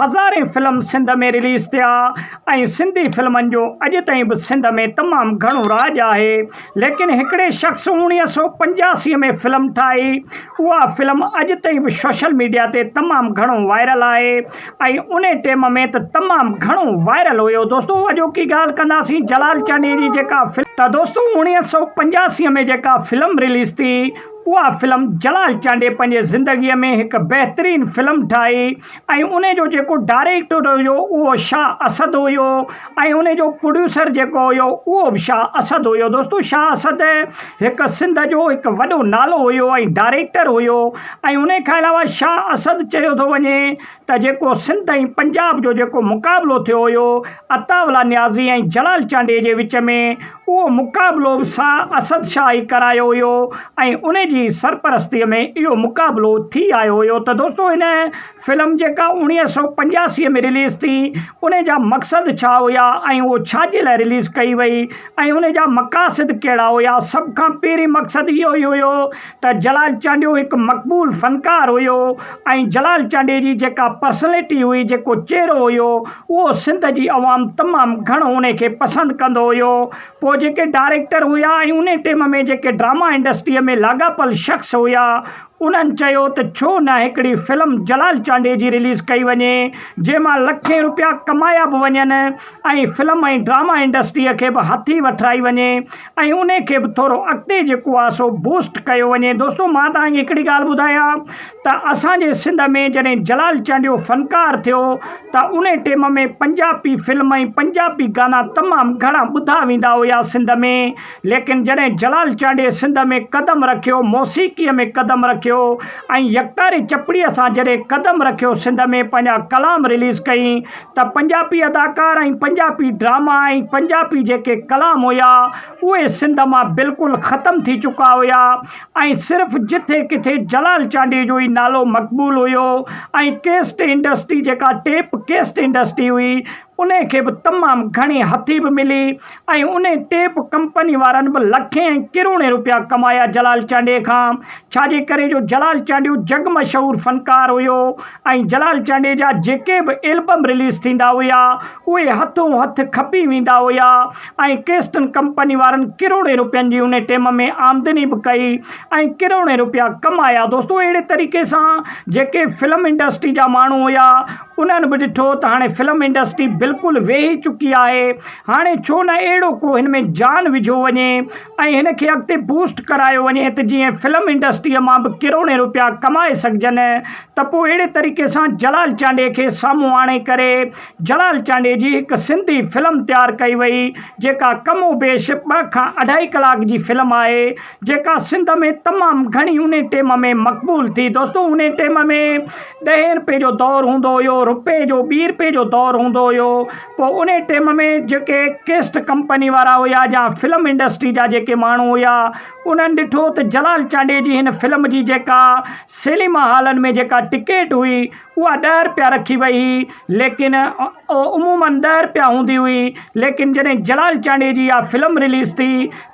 هزارين film Sindh ۾ release ٿيا ۽ سنڌي فلمن جو اڄ تائين به سنڌ ۾ تمام گهڻو راڄ آهي ليڪن هڪڙي شخص اوڻيهه سئو پنجاسي ۾ فلم ٺاهي اها فلم اڄ تائين به سوشل ميڊيا تي تمام گهڻو وائرل آهي ۽ انهي ٽيم ۾ ته تمام گهڻو وائرل هيو دوستو اڄوڪي ڳالهه ڪنداسين جلال چانڊيي جي جيڪا فلم ته دوستو اوڻيهه سئو پنجاسي ۾ جيڪا فلم رليز ٿي اها فلم جلال چانڊيي پنهنجي زندگي ۾ هڪ بهترين فلم ٺاهي ۽ ان جو جيڪو ڊائريڪٽر هيو اهو شاهه اسد هيو ۽ ان جو پروڊيوسر جيڪو هيو اهو به شاهه اسد هيو دوستو شاهه اسد هڪ سنڌ جو هڪ وڏو نالو هيو ۽ ڊائريڪٽر هيو ۽ ان کان علاوه شاهه اسد چيو ٿو وڃي ته جيڪو سنڌ ۽ پنجاب جو جيڪو مقابلو ٿيو هيو عطاء الله نيازي ۽ جلال چانڊيي جي وچ ۾ اهو مقابلو به شاهه اسد شاهه ئي ڪرايو هيو ۽ ان جي سرپرستيء ۾ اهو مقابلو ٿي آيو هيو ته دوستو هن فلم جيڪا اوڻيهه سؤ پنجاسي ۾ رليز ٿي ان جا مقصد ڇا هيا ۽ اهو ڇا جي لاء رليز ڪئي وئي ۽ ان جا مقاصد ڪهڙا هيا سڀ کان پهرين مقصد اهو ئي هيو ته جلال چانڊيو هڪ مقبول فنڪار هيو ۽ جلال چانڊيي جي جيڪا پرسنلٽي هئي، جيڪو چهرو هيو، اهو سنڌ جي عوام تمام گهڻو انهي کي پسند ڪندو هيو. پوء جيڪي ڊائريڪٽر هيا ۽ انهي ٽيم ۾ جيڪي ڊراما انڊسٽريء ۾ لاڳاپل شخص هيا، انهن چيو ته ڇو نه هڪڙي فلم جلال چانڊيي جي رليز ڪئي وڃي، جنهن مان لکين روپيا ڪمايا به وڃن ۽ فلم ۽ ڊراما انڊسٽريء کي به هٿي وٺرائي وڃي. ۽ انهي کي به ٿورو اڳتي جيڪو آ سو بوسٽ ڪيو وڃي دوستو مان توهان کي هڪڙي ڳالهه بدايا ته اسان جي سنڌ ۾ جڏهن جلال چانڊيو فنڪار ٿيو ته انهي ٽيم ۾ پنجابي فلم ۽ پنجابي گانا تمام گهڻا ٻڌا ويندا هيا سنڌ ۾ ليڪن جڏهن جلال چانڊي سنڌ ۾ قدم رکيو موسيقي ۾ قدم رکيو ۽ يڪتاري چپڙي سان جڏهن قدم رکيو سنڌ ۾ پنهنجا ڪلام رليز ڪئي ته پنجابي اداڪار ۽ پنجابي ڊراما ۽ پنجابي جيڪي ڪلام هيا اهي سنڌ مان بلڪل ختم ٿي چڪا هيا ۽ صرف جٿي ڪٿي جلال چانڊيي جو ئي نالو مقبول هيو ۽ ڪيسٽ انڊسٽري جيڪا ٽيپ ڪيسٽ انڊسٽري هئي انهي کي به تمام گهڻي هٿي به ملي ۽ ان ٽيپ ڪمپني وارن به لکين ۽ ڪروڙين روپيا ڪمايا جلال چانڊيي کان، ڇا جي ڪري جو جلال چانڊيو جڳ مشهور فنڪار هيو ۽ جلال چانڊيي جا جيڪي به البم رليز ٿيندا هيا اهي هٿون هٿ کپي ويندا هيا ۽ ڪيسٽن ڪمپني وارن ڪروڙين روپين جي ان ٽيم ۾ آمدني به ڪئي ۽ ڪروڙين روپيا ڪمايا دوستو اهڙي طريقي سان جيڪي فلم انڊسٽري جا ماڻهو هيا انهن به ڏٺو ته هاڻي فلم انڊسٽري بلڪل ويهي چڪي آهي، هاڻي ڇو نه اهڙو ڪو هن ۾ جان وجهيو وڃي ۽ هن کي اڳتي بوسٽ ڪرايو وڃي ته جيئن فلم انڊسٽريء مان به ڪروڙين روپيا ڪمائي سگهجن ته پوء اهڙي طريقي سان جلال چانڊيي کي سامهون آڻي ڪري جلال چانڊيي جي هڪ سنڌي فلم تيار ڪئي وئي جيڪا ڪم و بيش ٻه کان اڍائي ڪلاڪ جي فلم آهي جيڪا سنڌ ۾ تمام گهڻي انهي ٽيم ۾ مقبول ٿي دوستو انهي ٽيم ۾ ڏهين روپي جو دور هوندو هيو روپي جو ٻي روپي جو دور هوندو هيو پوء انهي ٽيم ۾ جيڪي ڪيسٽ ڪمپني وارا هيا جا فلم انڊسٽري جا جيڪي ماڻهو هيا انهن ڏٺو ته جلال چانڊيي جي هن فلم جي جيڪا سينيما هالن ۾ جيڪا ٽڪيٽ هئي اها ڏهه رپيا رکي ويئي هئي، ليڪن اها عموماً ڏهه رپيا هوندي هئي، ليڪن جڏهن جلال چانڊيي جي اها فلم رليز ٿي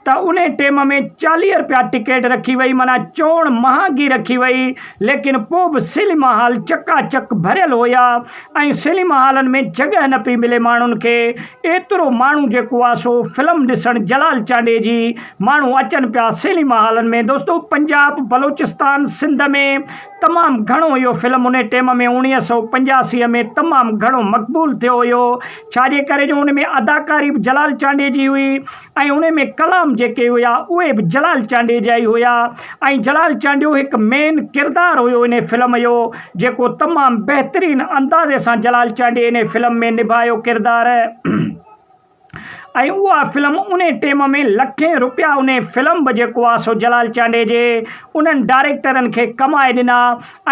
ته انهي ٽيم ۾ چاليهه رپيا ٽڪيٽ رکي ويئي معنيٰ چوڻ مهانگي رکي ويئي، ليڪن پوء به سينيما هال چڪا چڪ ڀريل هيا ۽ سينيما هالن ۾ جڳهه نه پئي ملي ماڻهن کي، ايترو ماڻهو جيڪو آ سو فلم ڏسڻ جلال چانڊيي جي ماڻهو اچن پيا سينيما هالن ۾ دوستو پنجاب بلوچستان سنڌ ۾ تمام گهڻو اهو فلم انهي ٽيم ۾ اوڻيهه سئو پنجاسي ۾ تمام گهڻو مقبول ٿيو هيو ڇا جي ڪري جو ان ۾ اداڪاري به جلال چانڊيي جي هئي ۽ انهي ۾ ڪلام جيڪي هيا اهي به جلال چانڊيي جا ئي هيا ۽ جلال چانڊيو هڪ مين ڪردار هيو انهي فلم جو جيڪو تمام بهترين اندازي سان جلال چانڊيي انهي فلم ۾ نڀايو ڪردار ۽ اها فلم انهي ٽيم ۾ لکين روپيا انهي فلم به جيڪو آ سو جلال چانڊي جي انهن ڊائريڪٽرن کي ڪمائي ڏنا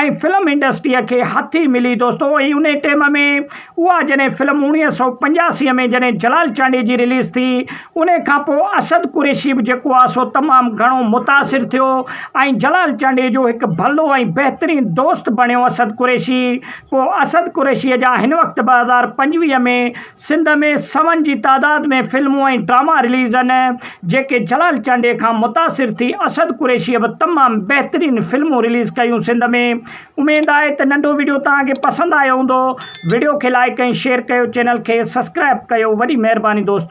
۽ فلم انڊسٽري کي هٿي ملي دوستو ۽ انهي ٽيم ۾ اها جڏهن فلم اوڻيهه سئو پنجاسي ۾ جڏهن جلال چانڊي جي رليز ٿي انهي کان پو اسد قريشي به جيڪو آ سو تمام گهڻو متاثر ٿيو ۽ جلال چانڊي جو هڪ ڀلو ۽ بهترين دوست بڻيو اسد قريشي پو اسد قريشي جا هن وقت ٻه هزار پنجويهه ۾ سنڌ ۾ سون جي تعداد ۾ فلمون ۽ ڊراما رليز ھن جيڪي جلال چانڊيي کان متاثر ٿي اسد قريشيء به تمام بهترين فلمون رليز ڪيون سنڌ ۾ اميد آھي ته ننڍو وڊيو توھان کي پسند آيو ھوندو وڊيو کي لائيڪ ۽ شيئر ڪيو چينل کي سسڪرائب ڪيو وڏي مھرباني دوستو.